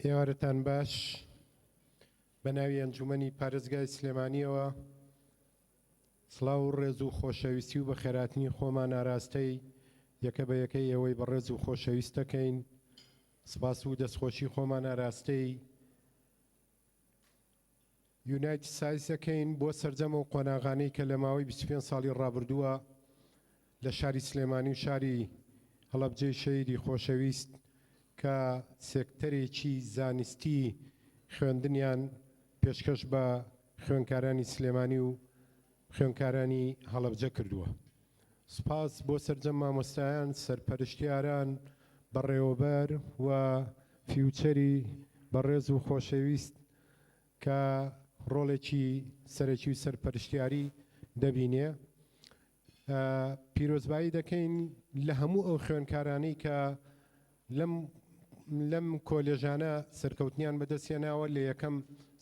ئێوارەتان باش بەناوی ئەنجومەنی پارێزگای سلێمانیەوە سڵاو و ڕێز و خۆشەویستی و بەخێراتنی خۆمان ئاراستەی یەکە بە یەکەی ئێوەی بەڕێز و خۆشەویستەکەین سپاس و دەستخۆشی خۆمان ئاراستەی یونایتد سایز دەکەین بۆ سەرجەم ئەو قۆناغانەی کە لە ماوەی بیست و پێنج ساڵی ڕابردووە لە شاری سلێمانی و شاری هەڵەبجەی شەهیدی خۆشەویست کە سێکتەرێکی زانستی خوێندنیان پێشکەش بە خوێنکارانی سلێمانی و خوێندکارانی هەڵەبجە کردووە. سپاس بۆ سەرجەم مامۆستایان، سەرپەرشتیاران، بەڕێوەبەر و فیوچەری بەڕێز و خۆشەویست کە ڕۆڵێکی سەرەکی و سەرپەرشتیاری دەبینێ. پیرۆزبایی دەکەین لە هەموو ئەو خوێندکارانەی کە لەم لەم کۆلێژانە سەرکەوتنیان بەدەست هێناوە لە یەکەم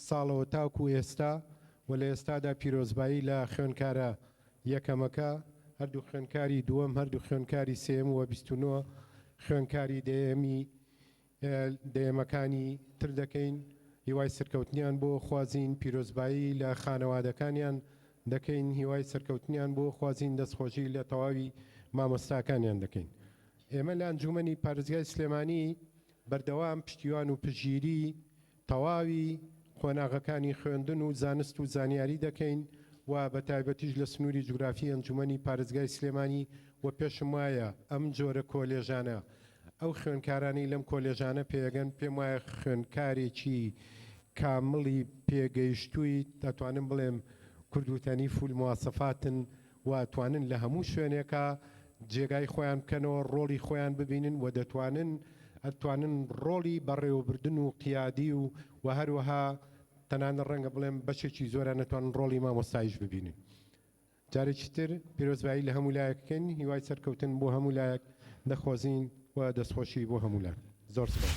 ساڵەوە تاکو ئێستا و لە ئێستادا پیرۆزبایی لە خوێنکارە یەکەمەکە هەردوو خوێنکاری دووەم هەردوو خوێنکاری سێیەم و بیست و نۆ خوێنکاری دەیەمی دەیەمەکانی تر دەکەین هیوای سەرکەوتنیان بۆ خوازین پیرۆزبایی لە خانەوادەکانیان دەکەین هیوای سەرکەوتنیان بۆ خوازین دەستخۆشی لە تەواوی مامۆستاکانیان دەکەین. ئێمە لە ئەنجوومەنی پارێزگای سلێمانی بەردەوام پشتیوان و پژیری تەواوی قۆناغەکانی خوێندن و زانست و زانیاری دەکەین و بە تایبەتیش لە سنووری جوگرافی ئەنجوومەنی پارێزگای سلێمانی و پێشم وایە ئەم جۆرە کۆلێژانە ئەو خوێندکارانەی لەم کۆلێژانە پێگەن پێم وایە خوێندکارێکی کامڵی پێگەیشتووی دەتوانم بڵێم کوردوتەنی فول مواسەفاتن و توانن لە هەموو شوێنێکا جێگای خۆیان بکەنەوە ڕۆڵی خۆیان ببینن و دەتوانن ئەتوانن ڕۆڵی بەڕێوەبردن و قیادی و وە هەروەها تەنانەت ڕەنگە بڵێم بەشێکی زۆران ئەتوانن ڕۆڵی مامۆستایش ببینن جارێکی تر پیرۆزبایی لە هەموو لایەک بکەین هیوای سەرکەوتن بۆ هەموو لایەک دەخوازین و دەستخۆشی بۆ هەموو لایەک زۆر سپاس.